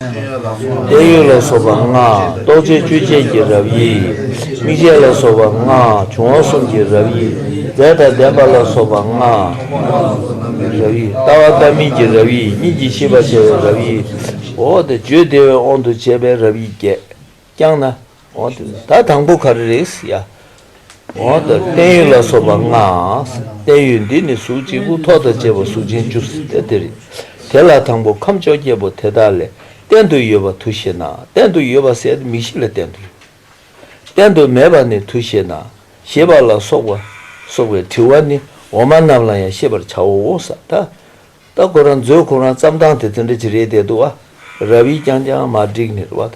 བརྟན་གཡོ་ལ་སོགས་པ་ལྔ། རྟོག་བཅས་བཅུ་བཅས་ཀྱི་རབ་དབྱེ་ཡིས། དམིགས་བྱེད་ལ་སོགས་པ་ལྔ། འབྱུང་བ་གསུམ་གྱི་རབ་དབྱེ་ཡིས། རྫས་དང་ལྡན་པ་ལ་སོགས་པ་ལྔ། རབ་དབྱེ། ལྟ་བ་ལྟ་མིན་གྱི་རབ་དབྱེ་ཡིས་གཉིས་ཀྱིས་ཤེས་པར་བྱ་བའི་རབ་དབྱེ་ཡིས། འོག་ཏུ་བརྗོད་བདེ་བའི་དབང་དུ་བྱས་པའི་རབ་དབྱེ་བརྒྱད། བསྐྱངས་ན། འོ་དེ་ད་དང་པོ་ག་རེ་རེད་ཡ། འོ་ད་བརྟན་གཡོ་ལ་སོགས་པ་ལྔ། བརྟན་གཡོ་འདི་ནི་གཟུགས་གཅིག་པུ་ཐོག་དང་བཅས་པ་གཟུགས་ཅན་བཅུ་སྟེ་དེ་རེད། དེ་ལ་དང་པོ་ཁམས་བཅོ་བརྒྱད་པོ་དེ་དག་ལས་བརྟན་དུ་ཡོད་པ་དུ་ཞེ་ན་བརྟན་དུ་ཡོད་པ་ཟད་དེ་མིག་བཞི་ལ་བརྟན་དུ་ཡོད། བརྟན་དུ་མེད་པ་ནི་དུ་ཞེ་ན་ཞེས་པ་ལ་སོགས་པ་སོགས་པའི་དྲི་བ་ནི་འོག་མ་རྣམས་ལ་ཡང་ཤེས་པར་བྱའོ། ད། ལྟ་ཁོ་རང་མཛོད་ཁོ་རང་བརྩམས་སྟངས་དེ་ཚོ་འདྲ་ཅི་རེད་བལྟས་འདུག་ཨ་རབ་ཡིག་རྐྱང་རྐྱང་མ་བསྒྲིགས་ནི་རེད་བ།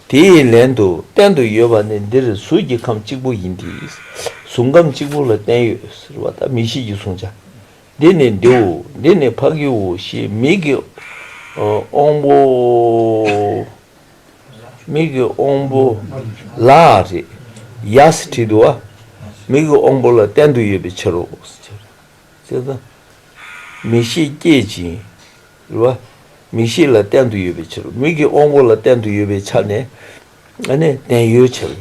དེ་ཡི་ལན་དུ་བསྟན་དུ་ཡོད་པ་ནི་འདིར་གཟུགས་ཀྱི་ཁམས་གཅིག་པུ་ཡིན་གྱི། གཟུགས་ཁམས་གཅིག་པུ་ལ་བསྟན་ཡོད་ཟེར་བ་ལྟར་མི་ཞིག་གི་བཟུང་བྱ་འདི་ནི་འདིའོ་འདི་ནི་ཕ་གིའོ་ཞེས་མིག་གི་དབང་པོ། མིག་གི་དབང་པོ། ལ་རེད་ཡ་ཟེར་བྲིས་འདུག་ཨ། མིག་གི་དབང་པོ་ལ་བསྟན་དུ་ཡོད་པའི་ཕྱིར་རོ། ཚེ་དང། མིག་ཤེས་བསྐྱེད་ཅིང། རེ་བ། མིག་ཤེས་ལ་བརྟན་དུ་ཡོད་པའི་ཕྱིར་མིག་གི་དབང་པོ་ལ་བརྟན་དུ་ཡོད་པའི་ཆ་ནས་ནི་བརྟན་གཡོའི་ཕྱིར།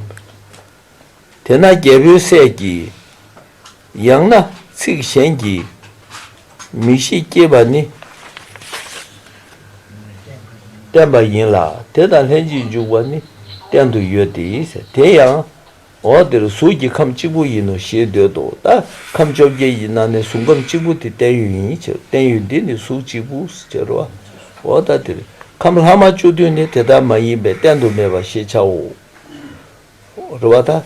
དེས་ན་རྒྱལ་པོའི་སྲས་ཀྱིས། ཡང་ན་ཚིག་གཞན་གྱིས། མིག་ཤེས་བསྐྱེད་པ་ནི། བརྟན་པ་ཡིན་ལ་དེ་དང་ལྷན་ཅིག་འཇུག་པ་ནི་བརྟན་དུ་ཡོད་དེ། དེ་ཡང་འོག་འདིར་གཟུགས་ཀྱི་ཁམས་གཅིག་པུ་ཡིན་ནོ་ཞེས་འདོད་དོ། ད་ཁམས་བཅོ་བརྒྱད་ཡིན་ན་ནི་གཟུགས་ཁམས་གཅིག་པུ་དེ་བརྟན་གཡོ་ཡིན་ཕྱིར་བརྟན་གཡོ་འདི་ནི་གཟུགས་གཅིག་པུ་ཟེར་རོ། འོག་ད་འདིར་ཁམས་ལྷག་མ་བཅུ་བདུན་ནི་དེ་ལྟར་མ་ཡིན་པས་བསྟན་དུ་མེད་པ་ཞེས་བྱའོ། རེ་བ་ད།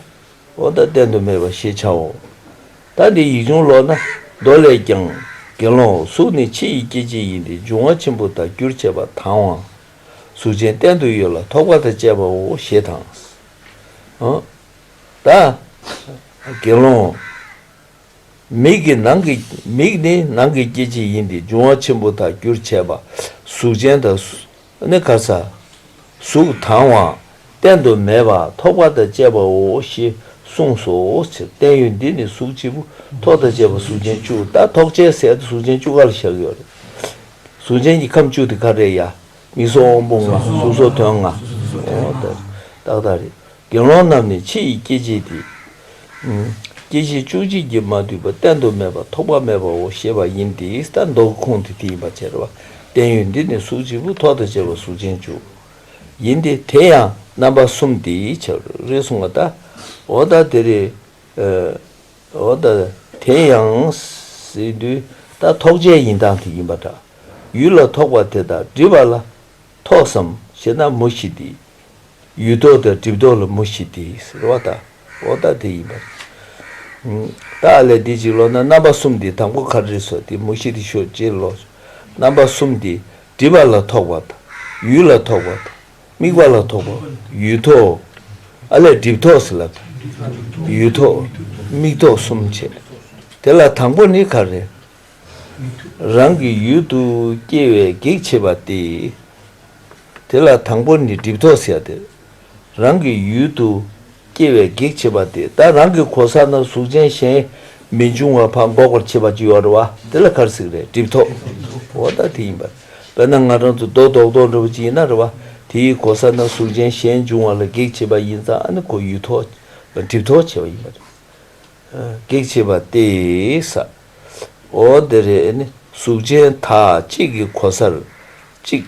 འོག་ད་བསྟན་དུ་མེད་པ་ཞེས་བྱའོ། ད་འདིར་ཡིག་ཆུང་ལོགས་ན་མདོ་ལས་ཀྱང། དགེ་སློང་གཟུགས་ནི་ཕྱི་ཡི་སྐྱེ་མཆེད་ཡིན་ཏེ་འབྱུང་བ་ཆེན་པོ་དང་རྒྱུར་བྱས་པ་དང། གཟུགས་ཅན་བསྟན་དུ་ཡོད་ལ་ཐོགས་པ་དང་བཅས་པའོ་ཞེས་དང། བདག། དགེ་སློང། མིག་གི་ནང་གི་མིག་ནི་ནང་གི་སྐྱེ་མཆེད་ཡིན་ཏེ་འབྱུང་བ་ཆེན་པོ་དག་རྒྱུར་བྱས་པ། གཟུགས་ཅན་དང། ནི་ག་ས། གཟུགས་དང་བ། བསྟན་དུ་མེད་པ་ཐོགས་པ་དང་བཅས་པའོ་ཞེས་གསུངས་སོ། བརྟན་གཡོ་འདི་ནི་གཟུགས་བྱེད་པོ་ཐོགས་དང་བཅས་པ་གཟུགས་ཅན་བཅུ་དག་ཐོགས་བཅས་ཟད་དེ་གཟུགས་ཅན་བཅུ་ག་ལ་བཞག་ཡོད། གཟུགས་ཅན་གྱི་ཁམས་བཅུ་དེ་ག་རེ་ཡ། མིག་སོགས་དབང་པོ་ལྔ། གཟུགས་སོགས་དོན་ལྔ། རྟགས་དག་རེ། དགེ་སློང་རྣམས་ནི་ཕྱི་ཡི་སྐྱེ་མཆེད་འདི། སྐྱེ་མཆེད་བཅུ་གཅིག་གིས་མ་བསྡུས་པ་བསྟན་དུ་མེད་པ་ཐོགས་པ་མེད་པའོ་ཞེས་པ་ཡིན་ཏེ་ས་མདོ་གི་ཁུངས་དེ་དེ་ཡིན་པར་བྱེད་པ། བསྟན་ཡོད་འདི་ནི་གཟུགས་གཅིག་པུ་ཐོག་དང་བཅས་པ་གཟུགས་ཅན་བཅུ། ཡིན་ཏེ་དེ་ཡང་རྣམ་པ་གསུམ་སྟེ། རེ་ཟུང་བ་ལྟ། འོ་ད་དེ་རེ། འོ་ད་དེ་ཡང་སྲིད་དུས་ད་ཐོག་བྱས་ཡིན་དང་དེ་ཡིན་པ་འདྲ། ཡུལ་ལ་ཐོག་པ་དེ་དག་འདྲིས་པ་ལ་ཐོག་སམ་ཞེ་ན་མུ་བཞི་སྟེ། ཡུལ་ཐོག་དང་འདྲིས་ཐོག་ལ་མུ་བཞི་སྟེ་ཟེར་བ་ད་འོ་ད་དེ་ཡིན་པ་འདྲ། བདག་ལས་འདི་གཅིག་ལོག་ན་རྣམ་པ་གསུམ་སྟེ་དང་པོ་གར་རིས་སོ་སྟེ་མུ་བཞི་སྟེ་ཞོ་སྤྱིར་ལོག་ཆོས་རྣམ་པ་གསུམ་སྟེ་འདྲིས་པ་ལ་ཐོག་པ་དང་ཡུལ་ལ་ཐོག་པ་དང། དམིགས་པ་ལ་ཐོགས་པ་ཡུལ་ཐོག། ཨ་ལས་སྒྲིབ་ཐོགས་སུ་ལབ། ཡུལ་ཐོག་དམིགས་ཐོགས་གསུམ་བྱེད། དེ་ལ་དང་པོ་ནི་ག་རེ། རང་གི་ཡུལ་དུ་སྐྱེ་བའི་གེགས་བྱེད་པ་སྟེ། དེ་ལ་དང་པོ་ནི་སྒྲིབ་ཐོགས་སེལ། རང་གི་ཡུལ་དུ་སྐྱེ་བའི་གེགས་བྱེད་པ་དེ་ལྟར་རང་གི་གོ་ས་ན་གཟུགས་ཅན་གཞན་མི་འབྱུང་བ་ཕ་འགོག་པར་བྱེད་པ་ཅི་ཡོད་རེད་བ། དེ་ལ་གར་སིག་རེད་སྒྲིབ་ཐོག་འོ་ད་དེ་ཡིན་པ་བས་ན་ང་རང་ཚོ་རྡོ་དོག་དོག་འདྲ་བོ་ཅི་ཡིན་ན་རེད་བ། དེ་ཡི་གོ་ས་ན་གཟུགས་ཅན་གཞན་འབྱུང་བ་ལ་གེགས་བྱེད་པ་ཡིན་ཙང་ཨ་ནི་ཁོ་ཡུལ་ཐོག་སྒྲིབ་ཐོག་བྱེད་པ་ཡིན་པ་རེད། གེགས་བྱེད་པ་སྟེ་ས་འོ་དེ་རེད་ཨ་ནི་གཟུགས་ཅན་དག་གཅིག་གི་གོ་སར་གཅིག།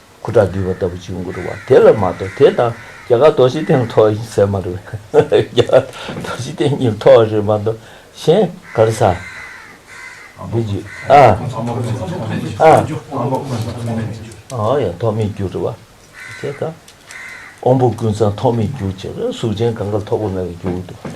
ཁུ་ཁྲག་འདུས་པ་ལྟ་བུ་ཅིག་མགུ་རུ་བ་དེ་ལ་མ་གཏོགས་དེ་དང་རྒྱ་གར་རྡོ་རྗེ་གདན་ཐོག་ཡིན་ཟེར་མ་རེད། རྒྱ་གར་རྡོ་རྗེ་གདན་ཉིད་ཐོག་རེད་མ་གཏོགས་གཞན་གར་ས་འདི་རྒྱུ་ཨ། ཨ། ཨོ་ཡ་ཐོག་མེད་རྒྱུ་རུ་བ་དེ་དང། དབང་པོ་ཀུན་ཚང་ཐོག་མེད་རྒྱུ་ཅེས་པ་གཟུགས་ཅན་གངྒཱ་ལ་ཐོགས་པ་མེད་པར་རྒྱུ་བ་འདུག་པ་དེ།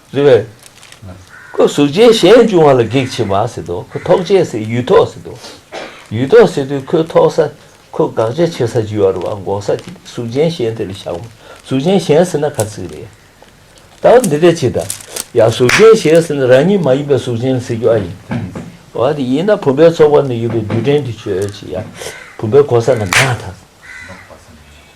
རེ་བས། ཁོ་གཟུགས་ཅན་གཞན་བྱུང་བ་ལ་གེགས་བྱེད་མ་ཟེར་ཏོ་ཁོ་ཐོགས་བཅས་སའི་ཡུལ་ཐོགས་ཟེར་ཏོ། ཡུལ་ཐོགས་ཟེར་དུས་ཁོའི་ཐོགས་ས་ཁོ་དགག་བྱ་བྱེད་ས་ཇི་བ་རུ་བ་འགོག་ས་དེ་དུས་གཟུགས་ཅན་གཞན་དེ་ལ་བཞག་མོ་གཟུགས་ཅན་གཞན་ཟེར་ན་ག་ཚིག་རེད། ད་འོ་འདི་འདྲས་བྱེད་ད། ཡང་གཟུགས་ཅན་གཞན་ཟེར་ན་རང་ཉིད་མ་ཡིན་པའི་གཟུགས་ཅན་ལ་ཟེར་རྒྱུ་ཨ་ཡིན། འོ་དེ་ཡིན་ན་བུམ་པའི་ཚོགས་པ་ན་ཡོད་པའི་རྡུལ་ཕྲན་དེ་ཆོས་ཅི་ཡང་བུམ་པའི་གོ་ས་ན་མེད་ད།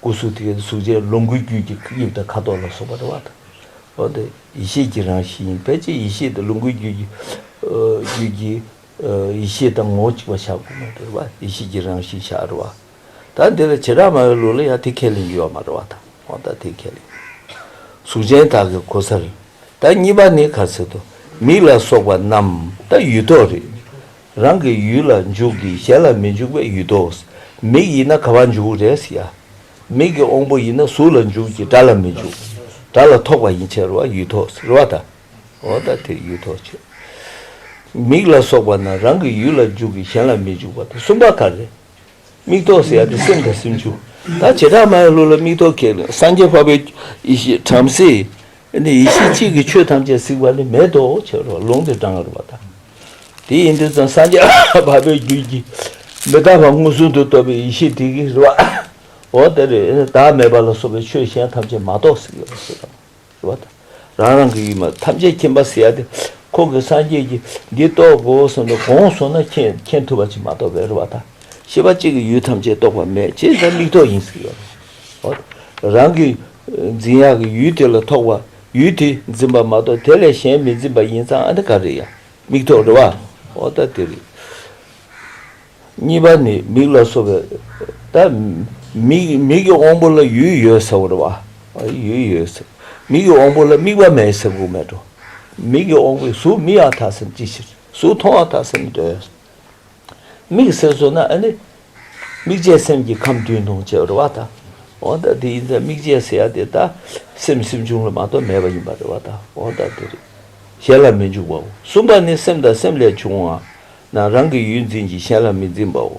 སྐུ་གཟུགས་དེ་གཟུགས་ཅན་ལོངས་སྐུའི་རྒྱུད་ཀྱི་དབྱིབས་དང་ཁ་དོག་ལ་སོགས་པ་རེ་བ་དང། འོ་དེ་ཡེ་ཤེས་ཀྱི་རང་བཞིན་ཡིན་ཕལ་ཆེར་ཡེ་ཤེས་དེ་ལོངས་སྐུའི་རྒྱུད་ཀྱི་ཡེ་ཤེས་དང་ངོ་བོ་གཅིག་པ་བྱ་དགོས་མ་རེད་བ། ཡེ་ཤེས་ཀྱི་རང་བཞིན་བྱ་རེད་བ། ད་འདི་ལ་བྱེ་བྲག་མ་བའི་ལུགས་ལ་ཡང་དེ་ཁས་ལེན་རྒྱུ་ཡོད་མ་རེད་བ་དང་འོ་ད་དེ་ཁས་ལེན་གཟུགས་ཅན་དག་གི་གོ་སར། ད་གཉིས་པ་ནི་ག་ཚོད་དུ་མིག་ལ་སོགས་པ་རྣམས་ད་ཡུལ་ཐོག་རེད། རང་གི་ཡུལ་ལ་འཇུག་གི་གཞན་ལ་མི་འཇུག་པའི་ཡུལ་ཏོ། མིག་ཡིན་ན་ག་བར་འཇུག་རེས་ཡ། མིག་གི་དབང་པོ་ཡིན་ན་གཟུགས་ལ་འཇུག་གི་སྒྲ་ལ་མི་འཇུག། སྒྲ་ལ་ཐོགས་པ་ཡིན་ཕྱིར་རོ་བ་ཡུལ་ཐོགས་ཟེར་རོ་བ་དང། འོ་ད་དེ་ཡུལ་ཐོགས་ཆོས། མིག་ལ་སོགས་པ་རྣམས་རང་གི་ཡུལ་ལ་འཇུག་གི་གཞན་ལ་མི་འཇུག་པ་དང་གསུམ་པ་ག་རེ། མིག་ཐོག་ཟེར་ཡག་དེ་སེམས་དང་སེམས་ཆུང། ད་བྱེ་བྲག་མ་ཡི་གླུ་ལ་མིག་ཐོག་ཁེལ། སངས་རྒྱས་འཕགས་པའི་ཡེ་ཤེས་བྲམ་ཟེ། ནི་ཡེ་ཤེས་གཅིག་གིས་ཆོས་ཐམས་ཅད་གཟིགས་པ་ནི་མེད་དོ་ཆེ་རུ་ལུང་དུ་དྲངས་རོགས་པ་དང། དེ་ཡིན་དུས་ཙམ་སངས་རྒྱས་འཕགས་པའི་རྒྱུད་ཀྱི། མི་རྟག་པ་མངོན་སུམ་དུ་རྟོགས་པའི་ཡེ་ཤེས་དེ་གིས་རེ་བ། འོ་དེ་རེད་བདག་མེད་པ་ལ་སོགས་པའི་ཆོས་གཞན་ཐམས་ཅད་མ་རྟོགས་གཟིགས་ཡོད་པ་སུ་དང། བ་དང། རང་རང་གི་ཡུལ་མ་ཐམས་ཅད་མཁྱེན་པ་སེ་ཡ་སྟེ། ཁོང་གི་སངས་རྒྱས་ཀྱི་འདི་རྟོགས་གོ་གསུངས་པས་གོང་སོང་ན་མཁྱེན་ཐུབ་པ་ཅིག་མ་གཏོགས་བེ་རུ་བ་དང་ཤེས་པ་གཅིག་གིས་ཡུལ་ཐམས་ཅད་རྟོགས་པ་མེད་ཅེས་ན་མིག་ཐོག་ཡིན་ཟེར་གི། འོ་ན་རང་གི་འཛིན་ཡག་གི་ཡུལ་དེ་ལ་ཐོགས་པ་ཡུལ་དེ་འཛིན་པ་མ་གཏོགས་དེ་ལས་གཞན་མི་འཛིན་པ་ཡིན་ཙང་ཨ་འདི་ག་རེད་ཡ། མིག་ཐོག་རེད་བ། འོ་ད་དེ་རེད། གཉིས་པ་ནི་མིག་ལ་སོགས་པའི་ད་མིག་མིག་གི་དབང་པོ་ལ་ཡུལ་ཡོད་ཟེར་བ་རེད་བ། ཡུལ་ཡོད་ཟེར། མིག་གི་དབང་པོ་ལ་དམིགས་པ་མེད་ཟེར་དགོས་མེད་དོ། མིག་གི་དབང་པོས་གཟུགས་མི་ཡང་དག་སེམས་ཅི་ཕྱིར་གཟུགས་མཐོང་ཡང་དག་སེམས་འདོད། དམིགས་ཟེར་བཟོ་ན་ཨ་ནི། དམིགས་བྱའི་སེམས་ཀྱིས་ཁམས་བདུན་མཐོང་བྱས་པ་རེད་བ་དང། འོ་ད་དེ་ཡིན་ཙང་དམིགས་བྱའི་ཟེར་ཡ་དེ་ད་སེམས་སེམས་བྱུང་ལ་མ་གཏོགས་མེད་པ་ཡིན་པ་རེད་བ་དང་འོ་ད་དེ་རེད། གཞན་ལ་མི་འཇུག་པའོ། གསུམ་པ་ནི་སེམས་དང་སེམས་ལས་བྱུང་བའང་ན་རང་གི་ཡུལ་འཛིན་ཅིང་གཞན་ལ་མི་འཛིན་པའོ།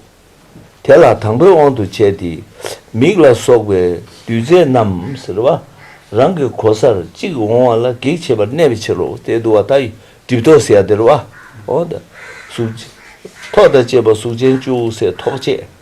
དེ་ལ་དང་པོའི་དབང་དུ་བྱས་ཏེ། མིག་ལ་སོགས་པའི་རྡུལ་རྫས་རྣམས་ཟེར་བ། རང་གི་གོ་སར་གཅིག་འོང་བ་ལ་གེགས་བྱེད་པར་གནས་པའི་ཕྱིར་རོ། དེས་དུ་བ་དག་གྲིབ་ཐོགས་སེ་ཡ་དེར་བའོ། གཟུགས། ཐོག་དང་བཅས་པ་གཟུགས་ཅན་ཅུང་ཟད་ཐོགས་བཅས།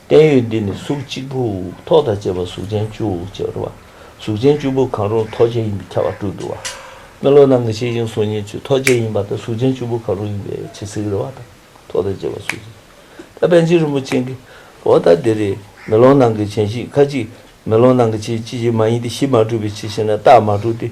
བརྟན་གཡོ་འདི་ནི་གཟུགས་གཅིག་པུ། ཐོག་དང་བཅས་པ་གཟུགས་ཅན་བཅུ། ཅེས་པར་བ། གཟུགས་ཅན་བཅུ་པོ་གང་རུང་ཐོགས་བཅས་ཡིན་པའི་ཁྱད་པར་དྲུག་འདུ་བ། སྨོན་ལོག་རྣམས་ཀྱི་ཤེས་བཞིན་གཟུགས་ཉིད་བཅུ་ཐོགས་བཅས་ཡིན་པ་དང་གཟུགས་ཅན་བཅུ་པོ་གང་རུང་ཡིན་པའི་ཕྱིར་ཚིག་རེ་བ་དང་ཐོག་དང་བཅས་པ་གཟུགས་ཅན། ད་པན་ཆེན་རིན་པོ་ཆེན་གྱིས། འོ་ད་འདི་རེ། མེ་ལོང་ནང་གི་བྱན་གཞི་ཁ་ཅིག། མེ་ལོང་ནང་གི་བྱེད་ཅི་བྱེད་མ་ཡིན་ཏེ་གཞི་མ་གྲུབ་པའི་ཕྱིར་ཞེ་ན་རྟགས་མ་གྲུབ་སྟེ།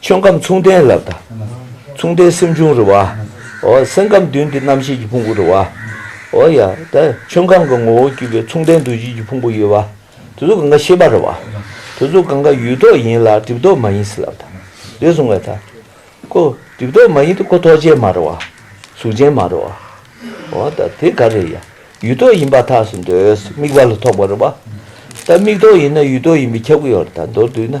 ཆོས་ཁམས་མཚུངས་ལྡན་ལ་བལྟ། མཚུངས་ལྡན་སེམས་བྱུང་རེ་བ། སེམས་ཁམས་བདུན་གྱི་རྣམ་ཤེས་ཀྱི་ཕུང་པོ་རེ་བ། ཆོས་ཁམས་ཀྱི་ངོ་བོ་བརྒྱུད་པའི་མཚུངས་ལྡན་འདུ་བྱེད་ཀྱི་ཕུང་པོ་ཡོད་པ། དེ་ཚོ་གང་གཱ་ཤེས་པ་རེ་བ། དེ་ཚོ་གང་གཱ་ཡུལ་ཐོག་ཡིན་ལ་སྒྲིབ་ཐོག་མ་ཡིན་སྲིད་ལ་བལྟ། འདས་སོང་བའི་མཐའ། ཁོ་སྒྲིབ་ཐོག་མ་ཡིན་ཏེ་ཁོ་ཐོག་ཅན་མ་རེ་བ། གཟུགས་ཅན་མ་རེ་བ། དེ་ག་རེ་ཡ། ཡུལ་ཐོག་ཡིན་པ་ཐགས་སུ་འདོད། དམིགས་པ་ལ་ཐོགས་པ་རེ་བ། དམིགས་ཐོག་ཡིན་ན་ཡུལ་ཐོག་ཡིན་པའི་ཁྱབ་ཀྱི་ཡོད་རེ་བལྟ་མདོར་བསྡུས་ན།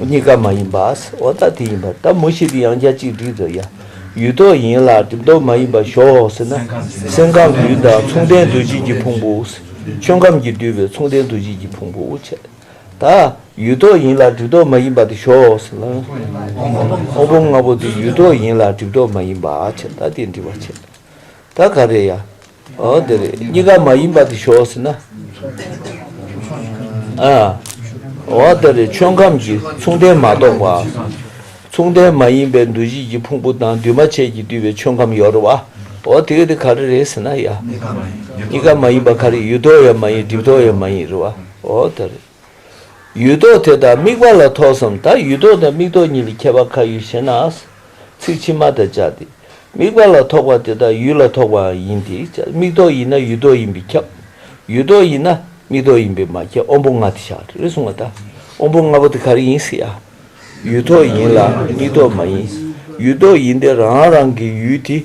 གཉིས་ཀ་མ་ཡིན་པའོ། འོ་ད་དེ་ཡིན་པ་ད་མུ་བཞི་གི་ཡང་རྒྱ་གཅིག་སྒྲིལ་དུ་ཡ། ཡུལ་རྟོག་ཡིན་ལ་གྲིབ་རྟོག་མ་ཡིན་པ་ཞོག་ཟེར་ན། སེམས་ཁམས་ཀྱི་ཡུལ་དང་མཚུངས་ལྡན་འདུ་བྱེད་ཀྱི་ཕུང་པོའོ། ཆོས་ཁམས་ཀྱིས་བསྡུས་པའི་མཚུངས་ལྡན་འདུ་བྱེད་ཀྱི་ཕུང་པོའོ། ད་ཡུལ་རྟོག་ཡིན་ལ་གྲིབ་རྟོག་མ་ཡིན་པ་དེ་ཞོག་ཟེར་ན། སྔོན་པོ་ལྔ་པོ་དེ་ཡུལ་རྟོག་ཡིན་ལ་གྲིབ་རྟོག་མ་ཡིན་པ། ད་དེ་འདྲི་བར་བྱེད། ད་ག་རེ་ཡ། འོ་དེ་རེད་གཉིས་ཀ་མ་ཡིན་པ་དེ་ཞོག་ཟེར་ན། འོ་དེ་རེད་ཆོས་ཁམས་ཀྱི་མཚུངས་ལྡན་མ་གཏོགས་པ། མཚུངས་ལྡན་མ་ཡིན་པའི་འདུ་བྱེད་ཀྱི་ཕུང་པོ་དང་འདུས་མ་བྱས་ཀྱིས་བསྡུས་པའི་ཆོས་ཁམས་ཡོད་རེད་བ། འོ་དེ་ག་དེ་ག་རེ་རེད་ཟེར་ན་ཡ། གཉིས་ཀ་མ་ཡིན་པ་ག་རེ་ཡུལ་ཐོག་ཡང་མ་ཡིན་སྒྲིབ་ཐོག་ཡང་མ་ཡིན་རེད་བ། འོ་དེ་རེད། ཡུལ་རྟོག་དེ་དང་དམིགས་པ་ལ་ཐོགས་སམ་ད་ཡུལ་རྟོག་དང་དམིགས་རྟོག་གཉིས་ལས་ཁྱད་པར་ག་ཡོད་ཞེ་ན། ཚིག་ཕྱི་མ་དང་སྦྱར་ཏེ། དམིགས་པ་ལ་ཐོགས་པ་དེ་དག་ཡུལ་ལ་ཐོགས་པའང་ཡིན་ཏེ་དམིགས་རྟོག་ཡིན་ན་ཡུལ་རྟོག་ཡིན་པས་ཁྱབ། ཡུལ་རྟོག་ཡིན་ན་དམིགས་རྟོག་ཡིན་པས་མ་ཁྱབ་དབང་པོ་ལྔ་དེ་ཞག་རེ་གསུངས་པ་དང་དབང་པོ་ལྔ་པོ་དེ་ག་རེ་ཡིན་ཟེར་ཡ། ཡུལ་རྟོག་ཡིན་ལ་དམིགས་རྟོག་མ་ཡིན། ཡུལ་རྟོག་ཡིན་ཏེ་རང་རང་གི་ཡུལ་དེ་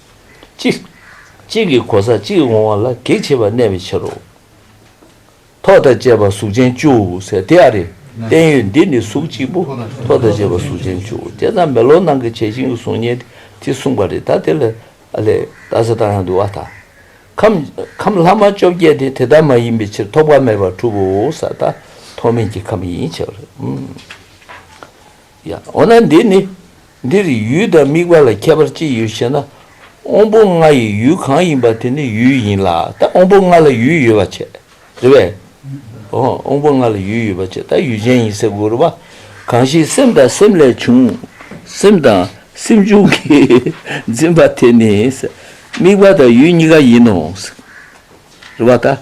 གཅིག། གཅིག་གི་གོ་ས་གཅིག་འོང་བ་ལ་གེགས་བྱེད་པ་གནས་པའི་ཕྱིར་རོ། ཐོག་དང་བཅས་པ་གཟུགས་ཅན་བཅུ་ཟེར་དེ་ཨ་རེ། བསྟན་ཡོད་འདི་ནི་གཟུགས་གཅིག་པོ་ཐོག་དང་བཅས་པ་གཟུགས་ཅན་བཅུ་བསྐྱེད་དང་མེ་ལོང་ནང་གི་བྱད་བཞིན་གྱི་གཟུགས་བརྙན་དེ་དེ་གསུངས་པ་རེད་ད་དེ་ལ་ཨ་ལས་ད་ཟེར་དང་ཡང་འདུལ་བ་དང། ཁམས་ལྷག་མ་བཅོ་བརྒྱད་དེ་དེ་ལྟར་མ་ཡིན་པའི་ཕྱིར་ཐོགས་པ་མེད་པར་གྲུབ་བོ་ཟེར་ད་ཐོགས་མེད་ཀྱི་ཁམས་ཡིན་ཕྱིར། ཡང་འོ་ན་འདི་ནི། འདིར་ཡུལ་དང་དམིགས་པ་ལ་ཁྱད་པར་ཅི་ཡོད་ཞེ་ན། དབང་པོ་ལྔ་ཡི་ཡུལ་གང་ཡིན་པ་དེ་ནི་ཡུལ་ཡིན་ལ་ད་དབང་པོ་ལྔ་ལ་ཡུལ་ཡོད་པར་བྱས། རེད་བས། དབང་པོ་ལྔ་ལ་ཡུལ་ཡོད་པར་བྱས་ད་ཡུལ་ཅན་ཡིན་སེ་གུ་རུ་པ། གང་ཞིག་སེམས་དང་སེམས་ལས་བྱུང། སེམས་དང་སེམས་བྱུང་གིས་འཛིན་པ་དེ་ནི། དམིགས་པ་དང་ཡུལ་གཉིས་ཀ་ཡིན་ནོ། རེད་བ་ད།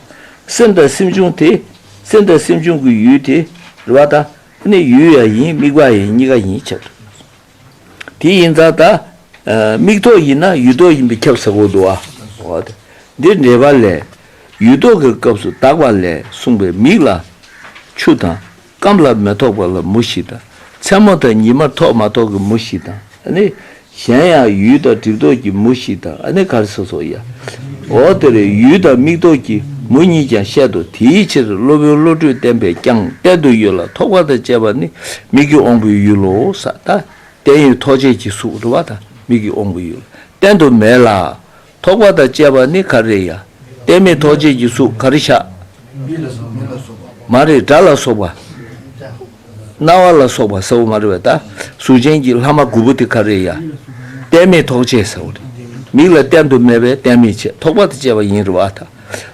སེམས་དང་སེམས་བྱུང་དེ། སེམས་དང་སེམས་བྱུང་གི་ཡུལ་དེ། རེད་བ་ད། ནི་ཡུལ་ཡ་ཡིན་དམིགས་པ་ཡིན་གཉིས་ཀ་ཡིན་ཁྱབ་ཐོག་ཡིན། དེ་ཡིན་ཙང་ད་དམིགས་ཐོག་ཡིན་ན་ཡུལ་ཐོག་ཡིན་པའི་ཁྱབ་ཟེར་བོ་འདུག་ཨ། འོ་དེ་འདིར་འགྲེལ་པ་ལས། ཡུལ་ཐོག་གི་སྐབས་སུ་དག་པ་ལས་གསུངས་པའི་མིག་ལ་ཆུ་དང། སྐམ་ལ་མེ་ཐོགས་པ་ལ་མུ་བཞི་དང། མཚན་མོ་དང་ཉི་མ་ཐོགས་མ་ཐོགས་ཀྱི་མུ་བཞི་དང། ཨ་ནི། གཞན་ཡང་ཡུལ་དང་གྲིབ་དོག་གི་མུ་ཞིག་དང་ཨ་ནི་གར་སོ་སོ་ཡ། འོ་དེར་ཡུལ་དང་མིག་དོག་གི་མུ་གཉིས་ཀྱང་བཤད་དོ་དེའི་ཕྱིར་སློབ་དཔོན་བློ་གྲོས་བརྟན་པས་ཀྱང་བསྟན་དུ་ཡོད་ལ་ཐོགས་པ་དང་བཅས་པ་ནི་མིག་གི་དབང་པོའི་ཡུལ་ལོ། ས་བརྟན་ཡུལ་ཐོགས་བཅས་ཀྱི་གཟུགས་འགྲོ་བ་དང་མིག་གི་དབང་པོའི་ཡུལ་བསྟན་དུ་མེད་ལ། ཐོགས་པ་དང་བཅས་པ་ནི་གར་རེ་ཡ། གཏད་མེད་ཐོགས་བཅས་ཀྱི་གཟུགས་གར་བཞག། མི་ལ་སོགས་མིག་ལ་སོགས་པ། མ་རེ་སྒྲ་ལ་སོགས་པ། རྣ་བ་ལ་སོགས་པ་ཟེར་བ་མ་རེ་བ་ད། གཟུགས་ཅན་གྱི་ལྷག་མ་དགུ་པོ་དེ་གར་རེ་ཡ། གཏད་མེད་ཐོགས་བཅས་ཟེར་བ། མིག་ལ་གཏན་དུ་མེད་པས་གཏན་མེད་བཅས་ཐོགས་པ་དང་བཅས་པ་ཡིན་རེ་བ་ད།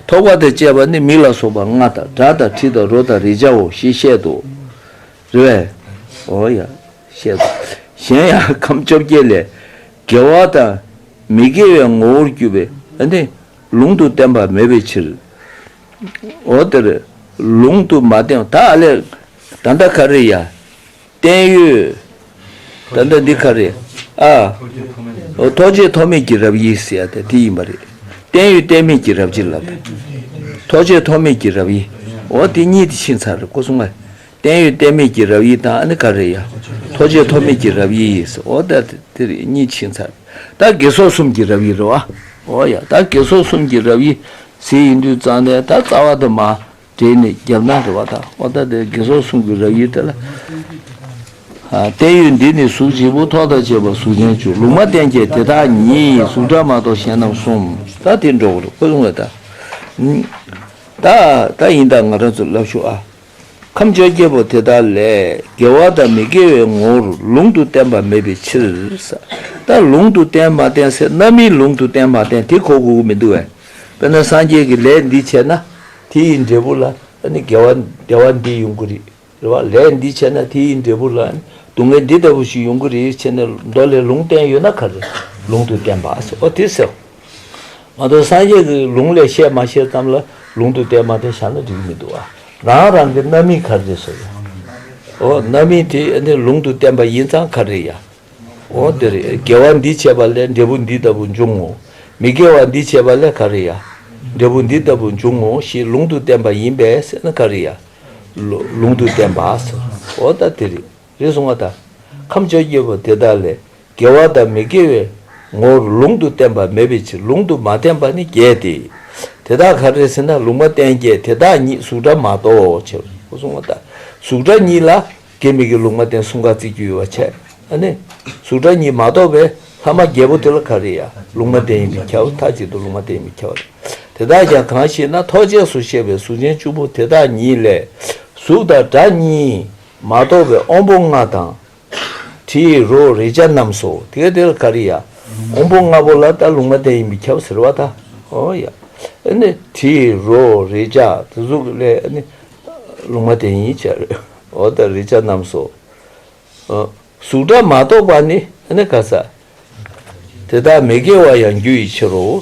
ཐོགས་པ་དང་བཅས་པ་ནི་མིག་ལ་སོགས་པ་ལྔ་དང་སྒྲ་དང་དྲི་དང་རོ་དང་རེག་བྱའོ་ཞེས་བཤད་དོ། རེ་བས། འོ་ཡ། བཤད་དོ། གཞན་ཡང་ཁམས་བཅོ་བརྒྱད་ལས། དགེ་བ་དང། མི་དགེ་བའི་ངོ་བོར་གྱུར་པའི་ནི་ལུང་དུ་བསྟན་པ་མེད་པའི་ཕྱིར། འོ་དེར་ལུང་དུ་མ་བསྟན་བ་དག་ལས་ད་ལྟ་ག་རེ་ཡང་བསྟན་ཡོད། ད་ལྟ་འདི་ག་རེ་ཨ། ཐོགས་བཅས་ཐོགས་མེད་ཀྱི་རབ་དབྱེ་ཟེར་བ་དེ་དེ་ཡིན་པ་རེད། བསྟན་ཡོད་བསྟན་མེད་ཀྱི་རབ་བྱེད་ལ། ཐོགས་བཅས་ཐོགས་མེད་ཀྱི་རབ་དབྱེ། འོ་དེ་གཉིས་དེ་ཕྱིན་ཚར་སྐུ་གསུམ་ཀ། བརྟན་ཡོད་བརྟན་མེད་ཀྱི་རབ་དབྱེ་དང་ཨ་ནི་ཀ་རེ་ཡ། ཐོ་ཆོད་ཐོ་མེད་ཀྱི་རབ་དབྱེ་ཡིས་ཨོ་ད་དེ་རེ་གཉིས་ཕྱིན་ཚར། ད་གེ་སོགས་གསུམ་གྱི་རབ་དབྱེ་རེ་བ། ཨོ་ཡ་ད་གེ་སོགས་གསུམ་གྱི་རབ་དབྱེ་ཟེར་ཡིན་དུས་གཙང་ནས་ད་རྩ་བ་དུ་མ་སྦྲེལ་ནས་རྒྱབ་ན་རེ་བ་དང་ཨོ་ད་དེ་གེ་སོགས་གསུམ་གྱི་རབ་དབྱེ་དེ་ལ། བརྟན་ཡོད་འདི་ནི་གཟུགས་བྱེད་པོ་ཐོག་དང་བཅས་པ་གཟུགས་ཅན་བཅུ་ལུང་མ་བསྟན་ཅད་དེ་དག་ཉིད་གཟུགས་སྒྲ་མ་གཏོགས་གཞན་རྣམས་གསུམ་ད་དེ་འགྲོ་བར་ཨོ་ལུང་བས་ད། ད་ཡིན་ད་ང་རང་ཚོ་ལབ་ཤོག་ཨ། ཁམས་བཅོ་བརྒྱད་པོ་དེ་དག་ལས་དགེ་བ་དང་མི་དགེ་བའི་ངོ་བོར་ལུང་དུ་བསྟན་པ་མེད་པའི་ཕྱིར། ད་ལུང་དུ་བསྟན་མ་བསྟན་སེར་སྣ་མིའི་ལུང་དུ་བསྟན་མ་བསྟན་དེ་གོ་དགོས་ཀྱི་མི་འདུག་བས། དཔེར་ན་སངས་རྒྱས་ཀྱི་ལས་འདི་བྱས་ན་དེ་ཡི་འབྲས་བུ་ལ་ནི་དགེ་བ་བདེ་བ་འདི་ཡོང་གི་རེད། རེ་བ། ལས་འདི་བྱས་ན་དེ་ཡི་འབྲས་བུ་ལ་ནི་སྡུག་བསྔལ་འདི་ལྟ་བུ་ཞིག་ཡོང་གི་རེད་ཅེས་ནི་མདོ་ལས་ལུང་བསྟན་ཡོད་ན་ག་རེ་ལུང་དུ་བསྟན་པ། ཨོ་དེ་སེའོ། མ་གཏོགས་སངས་རྒྱས་ཀྱི་ལུང་ལས་བཤད་མ་བཤད་ཙམ་ལ་ལུང་དུ་བསྟན་མ་བསྟན་བཞག་ན་འགྲིག་མི་འདུག་ཨ། རང་རང་གི་རྣམ་སྨིན་གར་རེད་ཟེར། ཨོ་རྣམ་སྨིན་དེ་ནི་ལུང་དུ་བསྟན་པ་ཡིན་ཙང་གར་རེད་ཡ། ཨོ་འདི་རེད་དགེ་བ་འདི་བྱས་པ་ལས་འབྲས་བུ་འདི་ལྟ་བུ་འབྱུང་ངོ། མི་དགེ་བ་འདི་བྱས་པ་ལས་གར་རེད་ཡ། འབྲས་བུ་འདི་ལྟ་བུ་འབྱུང་ངོ་ཞེས་ལུང་དུ་བསྟན་པ་ཡིན་པས་ཟེར་ན་གར་རེད་ཡ། ལུང་དུ་བསྟན་པ་ཟེར། ཨོ་ད་དེ་རེད། རེ་ཟུང་བ་དག་ཁམས་བཅོ་བརྒྱད་པོ་དེ་དག་ལས་དགེ་བ་དང་མི་དགེ་བའི་ངོ་བོར་ལུང་དུ་བསྟན་པ་མེད་པའི་ཕྱིར་ལུང་དུ་མ་བསྟན་པ་ནི་བརྒྱད་དེ། དེ་དག་ག་རེ་ཟེར་ན་ལུང་མ་བསྟན་བརྒྱད་དེ་དག་ཉིད་གཟུགས་སྒྲ་མ་གཏོགས་ཕྱིར་རོ། རེ་ཟུང་བ་དག་གཟུགས་སྒྲ་ཉིད་ལ་དགེ་མི་དགེ་ལུང་མ་བསྟན་གསུམ་ག་ཚིག་བརྒྱུད་བ་འཆད་ན་ནི་གཟུགས་སྒྲ་ཉིད་མ་གཏོགས་པའི་ལྷག་མ་བརྒྱད་པོ་དེ་ལ་ག་རེ་ཡང་ལུང་མ་བསྟན་ཡིན་མི་ཁྱབ་མཐའ་གཅིག་ཏུ་ལུང་མ་བསྟན་ཡིན་མི་ཁྱབ་བ་དང། དེ་དག་ཀྱང་གང་ཞེ་ན་ཐོགས་བཅས་སུ་བཤད་པའི་གཟུགས་ཅན་བཅུ་པོ་དེ་དག་ཉིད་ལས་གཟུགས་དང་སྒྲ་གཉིས། མ་གཏོགས་པའི་དབང་པོ་ལྔ་དང། དྲི་ཡི་རོ་རེག་བྱ་རྣམས་སོ། དེ་དེ་ལ་ཀ་རི་ཡ། དབང་པོ་ལྔ་པོ་ལ་ལྟ་ལུང་མ་བསྟན་ཡིན་པས་ཁྱབ་ཟེར་བ་ད་ཨོ་ཡ། དྲི་ཡི་རོ་རེག་བྱ་དེ་གཟུགས་ལས་ལུང་མ་བསྟན་ཡིན་བྱ་རོ་ཨོ་ད་རེག་བྱ་རྣམས་སོ། གཟུགས་སྒྲ་མ་གཏོགས་པ་ནི་ཀ་ས། དེ་དག་མི་དགེ་བ་ཡང་རྒྱུ་ཡི་ཕྱིར་རོ།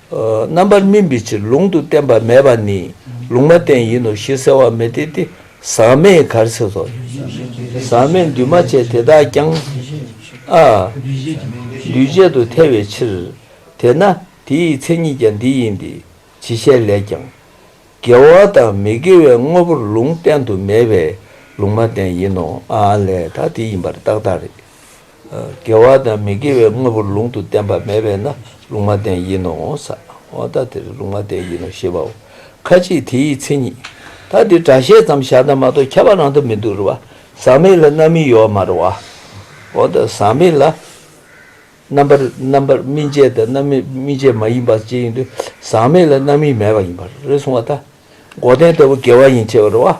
རྣམ་པར་སྨིན་པའི་ཕྱིར་ལུང་དུ་བསྟན་པ་མེད་པ་ནི་ལུང་མ་བསྟན་ཡིན་ནོ་ཞེས་ཟེར་བ་མི་འཐད་དེ། ཟག་མེད་གར་སེལ་སོགས་ཡིན། ཟག་མེད་འདུས་མ་བྱས་དེ་དག་ཀྱང། ཨ། འདུས་བྱས་དུ་ཐལ་བའི་ཕྱིར། དེས་ན་དེའི་མཚན་ཉིད་ཀྱང་འདི་ཡིན་ཏེ་ཇི་བཤད་ལས་ཀྱང། དགེ་བ་དང་མི་དགེ་བའི་དངོས་པོར་ལུང་བསྟན་དུ་མེད་པས་ལུང་མ་བསྟན་ཡིན་ནོ། ལས་དག་དེ་ཡིན་པར་བརྟགས་དག་རེད། དགེ་བ་དང་མི་དགེ་བའི་དངོས་པོར་ལུང་དུ་བསྟན་པ་མེད་པས་ན་ལུང་མ་བསྟན་ཡིན་ནོ། ས་བོན་ད་དེར་ལུང་མ་བསྟན་ཡིན་ནོ་ཞེས་པའོ། ཁ་ཅིག་དེ་ཡི་མཚན་ཉིད་ད་དེ་སྒྲ་བཤད་ཙམ་བཞག་ན་མ་གཏོགས་ཁྱབ་པ་རང་དུ་མི་འདུག་རུ་བ་ཟག་མེད་ལ་རྣམ་སྨིན་ཡོད་མ་རུ་བ། འོ་ད་ཟག་མེད་ལ་རྣམ་པར་རྣམ་པར་སྨིན་བྱེད་དང་རྣམ་སྨིན་བྱེད་མ་ཡིན་པ་ཅི་ཡིན་དུ་ཟག་མེད་ལ་རྣམ་སྨིན་མེད་པ་ཡིན་པར་རེ་གསུང་བ་ད། སྒོ་གཏན་ལྟ་བུ་དགེ་བ་ཡིན་ཆེ་བ་རེད་བ།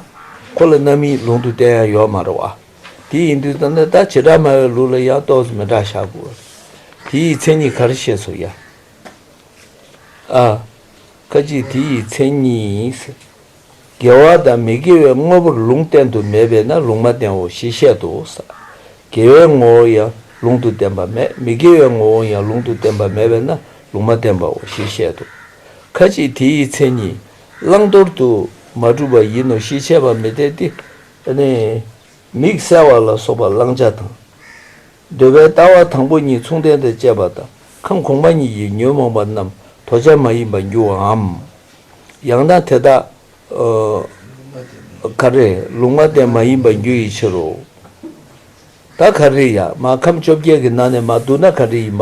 ཁོ་ལ་རྣམ་དབྱེའི་ལུང་དུ་བསྟན་ཡང་ཡོད་མ་རེད་བ། དེ་ཡིན་དུས་ཙམ་ན་ད་བྱེ་བྲག་སྨྲ་བའི་ལུགས་ལ་ཡང་རྟོག་བཟོ་མི་འདྲ་བཞག་དགོས་བ་རེད། དེ་ཡི་མཚན་ཉིད་ག་རེ་ཤེས་སོ་ཡ། ཨ། ཁ་ཅིག་དེ་ཡི་མཚན་ཉིད། དགེ་བ་དང་མི་དགེ་བའི་དངོས་པོར་ལུང་བསྟན་དུ་མེད་པས་ན་ལུང་མ་བསྟན་འོ་ཞེས་བཤད་དོ། དགེ་བའི་ངོ་བོ་ཡང་ལུང་དུ་བསྟན་པ་མེད་མི་དགེ་བའི་ངོ་བོ་ཡང་ལུང་དུ་བསྟན་པ་མེད་པས་ན་ལུང་མ་བསྟན་པའོ་ཞེས་བཤད་དོ། ཁ་ཅིག་དེ་ཡི་མཚན་ཉིད་བླང་དོར་དུ་མ་གྲུབ་པ་ཡིན་ནོ་ཞེས་འཆད་པ་མི་འཐད་དེ། མིག་གསལ་བ་ལ་སོགས་པ་བླང་བྱ་དང། འདོད་པའི་ལྟ་བ་དང་པོ་གཉིས་མཚུངས་ལྡན་དང་བཅས་པ་དང་ཁམས་གོང་མ་གཉིས་ཀྱི་ཉོན་མོངས་པ་རྣམས་དོར་བྱ་མ་ཡིན་པར་འགྱུར་བའམ། ཡང་ན་དེ་དག་ག་རེ་ལུང་མ་བསྟན་མ་ཡིན་པར་འགྱུར་ཡི་ཕྱིར་རོ། ད་ག་རེ་ཡ་མ་ཁམས་བཅོ་བརྒྱད་ཀྱི་ནང་ནས་མ་བསྡུ་ན་ག་རེ་ཡིན་པ།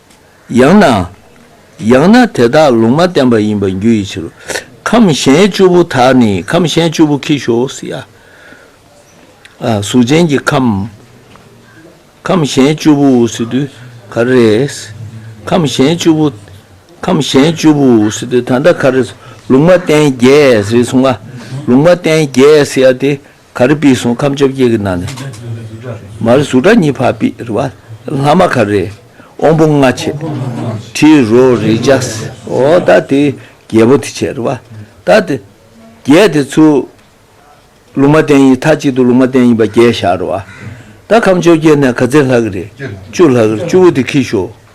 ཡང་ན། ཡང་ན་དེ་དག་ལུང་མ་བསྟན་པ་ཡིན་པར་འགྱུར་བའི་ཕྱིར་རོ། ཁམས་གཞན་བཅུ་པོ་དག་ནི་ཁམས་གཞན་བཅུ་པོ་ཁྱི་ཤོ་སི་ཡ། གཟུགས་ཅན་གྱི་ཁམས། ཁམས་གཞན་བཅུ་པོ་འུ་སི་དུ་ག་རེས། ཁམས་གཞན་བཅུ་པོ། ཁམས་གཞན་བཅུ་པོ་འུ་སི་དུ་ད་ལྟ་ག་རེས། ལུང་མ་བསྟན་རྒྱས་རེ་གསུང་ང། ལུང་མ་བསྟན་རྒྱས་སི་ཡ་དེ། ག་རེ་པི་སོང་ཁམས་བཅོ་བརྒྱད་ཀྱི་ནང་ནས། མ་རེ་གཟུགས་སྒྲ་གཉིས་འཕགས་པི་རི་བ། ལྷག་མ་ག་རེ་དབང་པོ་ལྔ་ཆེ། དྲི་རོ་རེག་བྱ་སའོ། ད་དེ་བརྒྱད་པོ་དེ་ཆེ་རི་བ། ད་དེ་བརྒྱད་དེ་ཚུ། ལུང་མ་བསྟན་ཡིན་མཐའ་གཅིག་ཏུ་ལུང་མ་བསྟན་ཡིན་པ་བརྒྱད་བཞག་རི་བ། ད་ཁམས་བཅོ་བརྒྱད་ནས་ག་ཚད་ལྷག་གི་རེད། བཅུ་ལྷག་གི་རེད་བཅུ་བོ་དེ་ཁིས་ཤོག།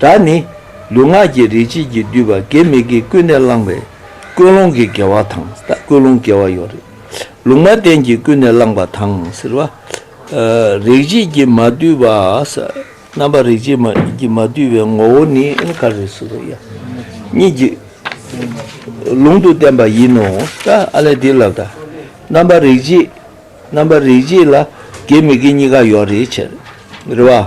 སྒྲ་ནི། ལུས་ངག་གི་རིག་བྱེད་ཀྱིས་བསྡུས་པ་དགེ་མི་དགེ་ཀུན་ནས་བསླངས་པའི་ཀུན་སློང་གི་དགེ་བ་དང་ཀུན་སློང་དགེ་བ་ཡོད། ལུང་མ་བསྟན་གྱིས་ཀུན་ནས་བསླངས་པ་དང། རིག་བྱེད་ཀྱིས་མ་བསྡུས་པ། རྣམ་པར་རིག་བྱེད་ཀྱིས་མ་བསྡུས་པའི་ངོ་བོ་ནི། གཉིས་ཀྱི་ལུང་དུ་བསྟན་པ་ཡིན་ནོ། ཨ་ལས་འདི་ལབ་ད། རྣམ་པར་རིག་བྱེད་ལ་དགེ་མི་དགེ་གཉིས་ཀ་ཡོད། རེ་བ།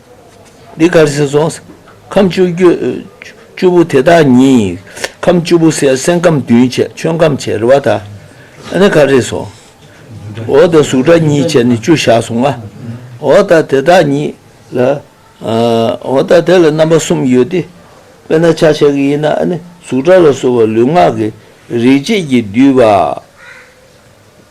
འདི་སྐར་གཟིགས་རྫོགས་སམ། ཁམས་བཅུ་བཅུ་པོ་དེ་དག་ཉིད། ཁམས་བཅུ་པོ་གསལ་སེང་ཁམས་བདུན་བྱས་ཆོས་ཁམས་བྱས་རེ་བ་དག། ནི་ཁ་རེས་སོ། འོ་དང་གཟུགས་སྒྲ་གཉིས་བྱས་ནི་བཅུ་བཞག་སོང་ང། འོ་དང་དེ་དག་ཉིད་ལ། འོ་དང་དེ་ལ་རྣམ་པ་གསུམ་ཡོད་དེ། དཔེར་ན་ཆ་བྱད་ཀྱི་ཡིན་ན་ནི་གཟུགས་སྒྲ་ལ་སོགས་པ་ལུས་ངག་གི་རིག་བྱེད་ཀྱིས་བསྡུས་པ།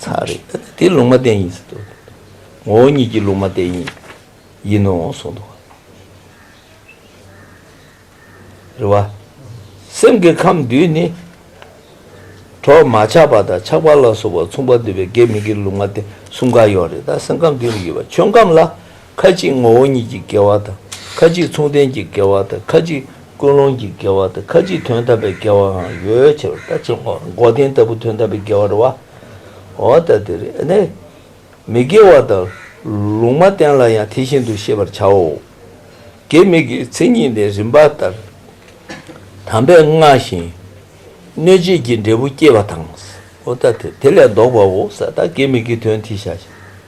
ཚར་རེ་དེ་ལུང་མ་བསྟན་ཡིན་ཟེར་དུ་ངོ་བོ་ཉིད་ཀྱི་ལུང་མ་བསྟན་ཡིན་ཡིན་ནོ་གསུངས་འདུག། རེད་བ། སེམས་ཀྱི་ཁམས་བསྡུས་ནི། གྲོགས་མ་ཆགས་པ་དང་ཆགས་པ་ལ་སོགས་པ་མཚུངས་པ་འདུས་པའི་དགེ་མི་དགེ་ལུང་མ་བསྟན་གསུམ་ག་ཡོད་རེད་ད་སེམས་ཁམས་བསྡུས་ནི་ཡོད་པ་ཆོས་ཁམས་ལ་ཁ་ཅིག་ངོ་བོ་ཉིད་ཀྱི་དགེ་བ་དང། ཁ་ཅིག་མཚུངས་ལྡན་གྱི་དགེ་བ་དང་ཁ་ཅིག་ཀུན་སློང་གི་དགེ་བ་དང་ཁ་ཅིག་དོན་དམ་པའི་དགེ་བའང་ཡོད་ཕྱིར་རོ། ད་ཅི་འོག་མགོ་རྟིང་ལྟ་བུ་དོན་དམ་པའི་དགེ་བ་རེད་བ། འོ་ད་དེ་རེ་ནས་མི་དགེ་བ་དང་ལུང་མ་བསྟན་ལ་ཡང་དེ་བཞིན་དུ་ཤེས་པར་བྱའོ། དགེ་མི་དགེའི་མཚན་ཉིད་ནི་རིམ་པ་ལྟར་དམ་པས་བསྔགས་ཤིང་གནོད་བྱེད་ཀྱི་འབྲས་བུ་བསྐྱེད་པ་དང། འོ་ད་དེ་ལས་བཟློག་པའོ་ས་དག་དགེ་མི་དགེའི་དོན་དེ་བྱ་ཞིང།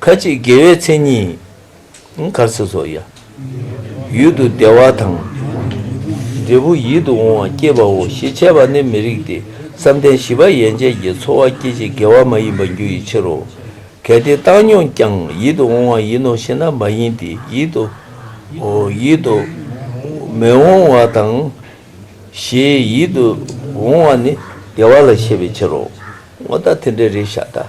ཁ་ཅིག་དགེ་བའི་མཚན་ཉིད་གར་སོ་སོ། ཡུལ་དུ་བདེ་བ་དང། འབྲས་བུ་ཡིད་དུ་འོང་བ་སྐྱེས་པའོ་ཞེས་འཆད་པ་ནི་མི་རིགས་ཏེ་བསམ་གཏན་བཞི་པ་ཡན་ཆད་ཀྱི་ཚོར་བ་སྐྱེད་བྱེད་དགེ་བ་མ་ཡིན་པ་རྒྱུ་ཡི་ཕྱིར་རོ། གལ་ཏེ་བཏང་སྙོམས་ཀྱང་ཡིད་དུ་འོང་བ་ཡིན་ནོ་ཞེ་ན་མ་ཡིན་ཏེ་ཡིད་དུ། ཡིད་དུ། མི་འོང་བ་དང། ཞེས་ཡིད་དུ་འོང་བ་ནི་བདེ་བ་ལ་བཤད་པའི་ཕྱིར་རོ། ངོ་ད་དེ་འདྲའི་རེ་བཞག་ད།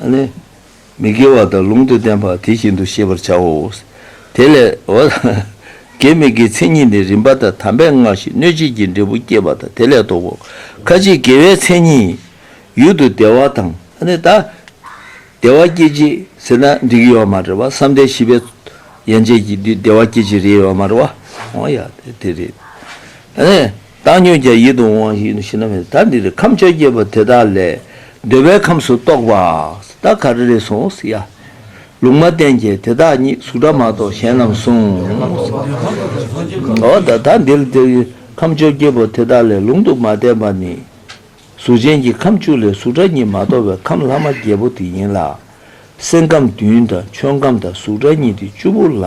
ཨ་ནི། མི་དགེ་བ་དང་ལུང་དུ་བསྟན་པ་དེ་བཞིན་དུ་ཤེས་པར་བྱའོ། དེ་ལས། དགེ་མི་དགེའི་མཚན་ཉིད་ནི་རིམ་པ་དང་དམ་པའི་སྔགས་ཤིང་གནོད་བྱེད་ཀྱི་འབྲས་བུ་བསྐྱེད་པ་དང་དེ་ལས་བཟློག་གོ། ཁ་ཅིག་དགེ་བའི་མཚན་ཉིད། ཡུལ་དུ་བདེ་བ་དང། ཨ་ནི། བདེ་བ་སྐྱེད་བྱེད་ཟེར་ན་འགྲིག་གི་ཡོད་མ་རེད་བ། བསམ་གཏན་བཞི་པའི། ཡན་ཆད་ཀྱི་དུས་བདེ་བ་སྐྱེད་བྱེད་རེད་ཡོད་མ་རེད་བ། ཨོ་ཡ། དེ་རེད། ཨ་ནི། བཏང་སྙོད་ཀྱང་ཡིད་དུ་འོང་བ་ཞིག་ནི་ཤི་ན་མེད་ད་འདིར་ཁམས་བཅོ་བརྒྱད་པོ་དེ་དག་ལས་འདོད་པའི་ཁམས་སུ་གཏོགས་པ་ད་ག་རེ་རེ་སོང་ཟེར་ཡ། ལུང་མ་བསྟན་གྱི་དེ་དག་ཉིད་གཟུགས་སྒྲ་མ་གཏོགས་གཞན་རྣམས་གསུངས། ད་འདིར་འདིར་ཁམས་བཅོ་བརྒྱད་པོ་དེ་དག་ལས་ལུང་དུ་མ་བསྟན་པ་ནི། གཟུགས་ཅན་གྱི་ཁམས་བཅུ་ལས་གཟུགས་སྒྲ་གཉིས་མ་གཏོགས་པའི་ཁམས་ལྷག་མ་བརྒྱད་པོ་དེ་ཡིན་ལ། སེམས་ཁམས་བདུན་དང་ཆོས་ཁམས་དང་གཟུགས་སྒྲ་གཉིས་ཏེ་བཅུ་པོ་ལ།